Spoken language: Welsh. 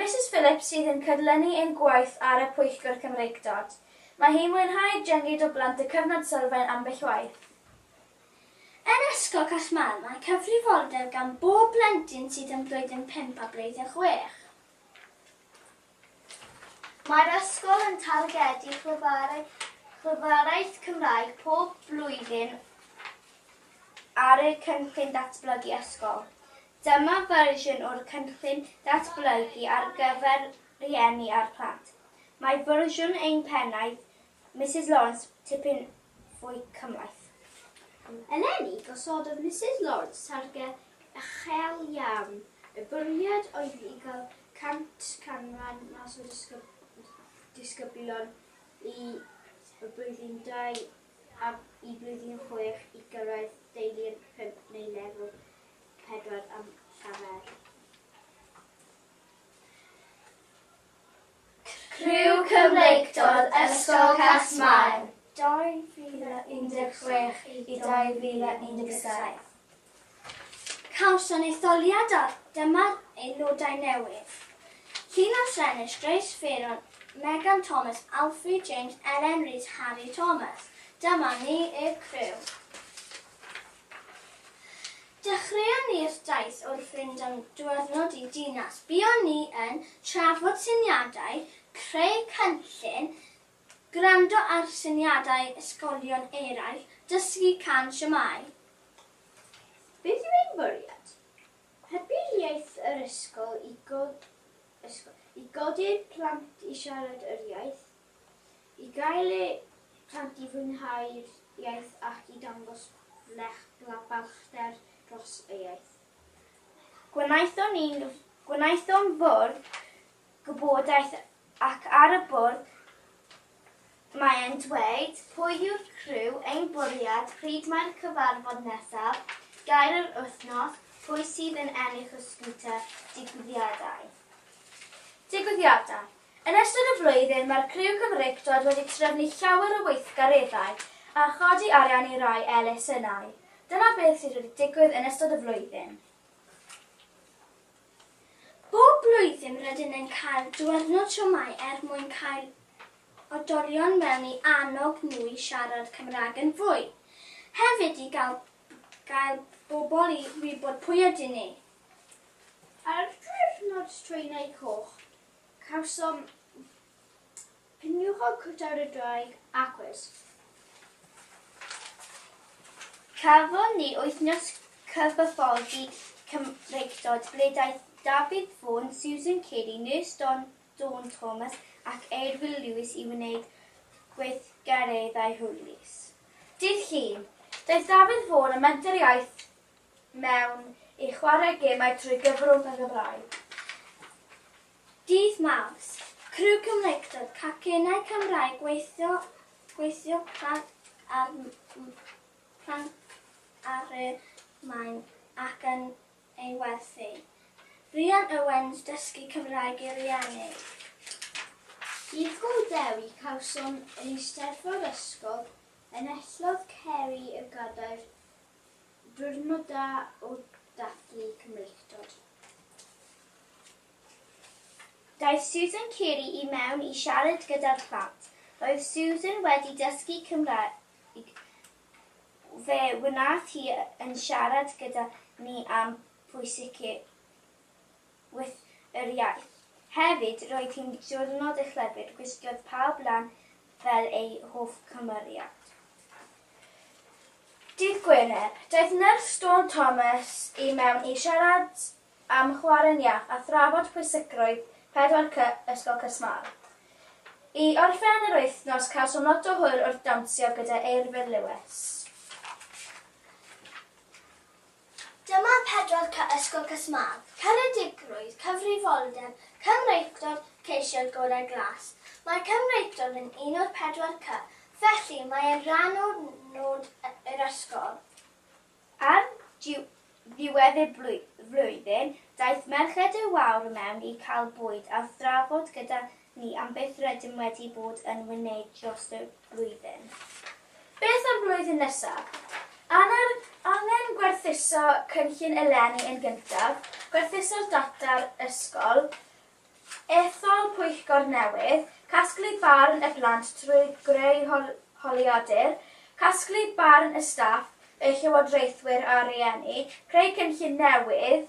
Misus Phillips sydd yn cydlynu ein gwaith ar y Pwyllgor Cymreictod. Mae hi'n mwynhau dynged o blant y Cyfnod Sylfaen ambell waith. Yn Ysgol Casmael mae cyfrifoldeb gan bob plentyn sydd yn Blwyddyn Pump a Blwyddyn Chwech. Mae'r ysgol yn targedu chwibwarau Chwibwaraeth Cymraeg pob blwyddyn ar eu Cynllun Datblygu Ysgol. Dyma fersiwn o'r cynllun datblygu ar gyfer rhieni a'r plant. Mae fersiwn ein pennaeth, Misus Lawrence, tipyn fwy cymhleth. Eleni, gosododd Misus Lawrence targed uchel iawn. Y bwriad oedd i gael 100 canran mas o disgyblion i Blwyddyn Dau a i Blwyddyn Chwech i gyrraedd deili'r pump neu lefel pedwar am Llafur. Criw Cymreictod Ysgol Casmair 2016 i 2017. Cawson etholiadau, dyma'r aelodau newydd. Llinos Rhenish, Grace Fearon, Megan Thomas, Alfie James, Ellen Rees, Harry Thomas. Dyma ni y criw. Dechreuon ni'r daith wrth fynd am ddiwrnod i dinas. Buon ni yn trafod syniadau, creu cynllun, gwrando ar syniadau ysgolion eraill, dysgu can siamai. Beth yw ein bwriad? Hybu iaith yr ysgol i godi'r plant i siarad yr iaith. I gael eu plant i fwynhau'r iaith ac i dangos blech bla balchder dros y iaith. Gwnaethon ni, gwnaethom fwrdd gwybodaeth ac ar y bwrdd mae e'n dweud pwy yw'r criw, ein bwriad, pryd mae'r cyfarfod nesaf, gair yr wythnos, pwy sydd yn ennill y sgwter, digwyddiadau. Digwyddiadau. Yn ystod y flwyddyn mae'r criw Cymreictod wedi trefnu llawer o weithgareddau a chodi arian i rai elusennau. Dyna beth sydd wedi digwydd yn ystod y flwyddyn. Bob blwyddyn rydyn yn cael diwrnod siomai er mwyn cael odolion mewn i annog nhw i siarad Cymraeg yn fwy. Hefyd i gael gael bobl i wybod pwy ydyn ni. Ar ddiwrnod Straenau Coch, Cawsom peniwchog cwtawd y ddraig a cwis. Cafon ni wythnos cyfathrebu Cymreictod ble daeth Dafydd Vaughan, Susan Kelly, Nurse Dawn Thomas ac Eirwil Lewis i wneud gweithgareddau hwylus. Dydd Llun, daeth Dafydd Vaughan â Menter Iaith mewn i chwarae gemau trwy gyfrwng y Gymraeg. Dydd Mawrth, criw Cymreictod Cacennau Cymraeg gweithio gweithio plant ar plant ar y maen ac yn ei werthu. Rhian Owens Dysgu Cymraeg i Rieni. Dydd Gŵyl Dewi cawsom yn Eisteddfod Ysgol Enillodd Ceri y Gadair Diwrnod da o dathlu Cymreictod. Daeth Susan Carey i mewn i siarad gyda'r plant. Roedd Susan wedi dysgu Cymraeg, fe wnaeth hi yn siarad gyda ni am pwysigrwydd with yr iaith. Hefyd, roedd hi'n ddiwrnod echlebyd, gwisgodd pawb lan fel eu hoff cymeriad. Dydd Gwener, daeth Nyrs Dawn Thomas i mewn i siarad am chwarae'n iach a thrafod pwysigrwydd 4C Ysgol Cysmar. I orffen yr wythnos, cawsom lot o hwyl wrth dawnsio gyda Eirfyr Lewis. Dyma pedwar cy Ysgol Casmâd, Ceredigrwydd, Cyfrifoldeb, Cymreictod, Ceisiodd Gorau Glas. Mae Cymreictod yn un o'r pedwar cy, felly mae e'n rhan o nod yr ysgol. Ar ddiwedd y flwyddyn, daeth Merched y Wawr mewn i cael bwyd a thrafod gyda Ni am byth rydym wedi bod yn wneud dros y blwyddyn. Beth am blwyddyn nesaf? Angen angen gwerthuso cynllun eleni yn gyntaf, gwerthuso'r data'r ysgol, ethol pwyllgor newydd, casglu barn y plant trwy greu hol holiadur, casglu barn y staff, y llywodraethwyr a'r rhieni, creu cynllun newydd,